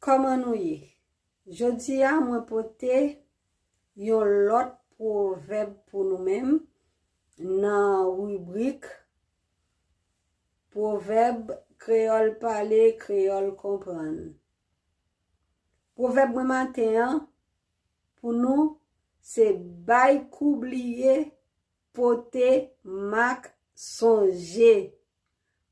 Kòman nou ye? Jodi a mwen pote yon lòt pwovèb pou nou menm nan ribrik pwovèb kreyòl pale, kreyòl konprann. Pwovèb mwen maten an pou nou se bay kou bliye pote mak sonje.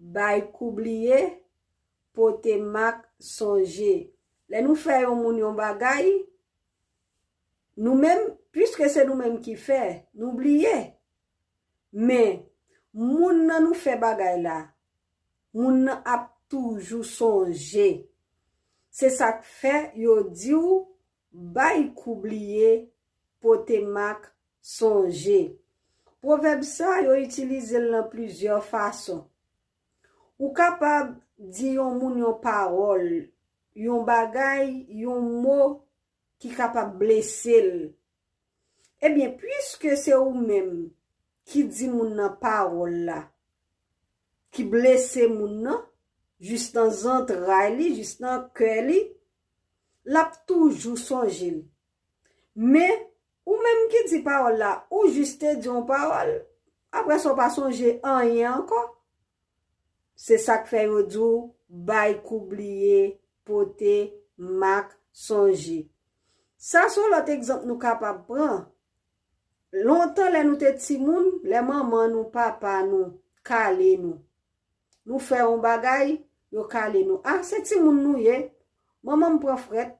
Bay kou bliye, pote mak sonje. Lè nou fè yon moun yon bagay, nou menm, piske se nou menm ki fè, nou bliye. Men, moun nan nou fè bagay la, moun nan ap toujou sonje. Se sa k fè yo di w Bay kou bliye, pote mak, sonje. Pwovèb sa yo itilize l nan plizyè fason. Ou kapab di yon moun yon pawòl, yon bagay, yon mo ki kapab blese l. Ebyen, piske se ou menm ki di moun nan pawòl la ki blese moun nan jis nan zantray li, jis nan kè li, L ap toujou sonje l. Men, ou menm ki di pawòl la, ou jis te di yon pawòl, apre sa ou pa sonje anyen ankò. Se sa k fè yo di w bay kou bliye, pote mak sonje. Sa se yon lòt egzanp nou kapab pran. Lontan lè nou te timoun, lè manman nou, papa nou kale nou, Nou fè yon bagay, yo kale nou. Ah, se timoun nou ye. Manman m pran frèt.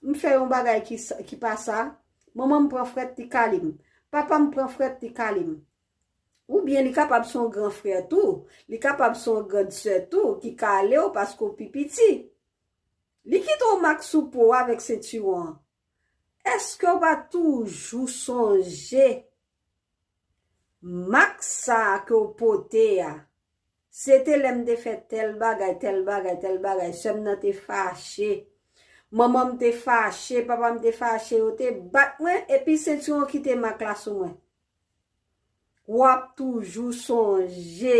M fè yon bagay ki pa sa. Manman m pran frèt, li kale m. Papa m pran frèt, li kale m. Oubyen li kapab se yon gran frè tou, li kapab se yon grand sè tou ki kale w paske w pi piti. Li kite yon mak sou po w avèk sentiwon an. Eske w pa toujou sonje mak sa ke w pote a, se te lè m te fè tèl bagay, tèl bagay, tèl bagay, sè m nan te fache, manman m te fache, papa m te fache, yo te bat mwen, epi sentiwon kite mak la sou mwen. W ap toujou sonje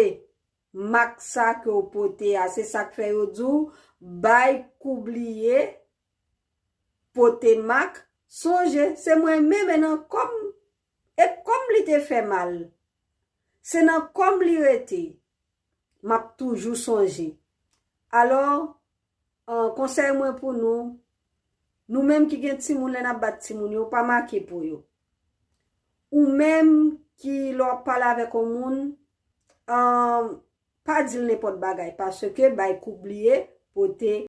mak sa ke w pote a, se sa k fè yo di w bay kou bliye, Pote mak, sonje se mwen menm e nan kò m e kò m li te fè mal. Se nan kò m li rete, m ap toujou sonje. Alò, an, konsèy mwen pou nou, nou menm ki gen timoun lè n ap bat timoun yo, pa make po yo. Ou menm ki lè w ap pale avèk on moun, an, pa di l nenpòt bagay paske bay kou bliye, pote.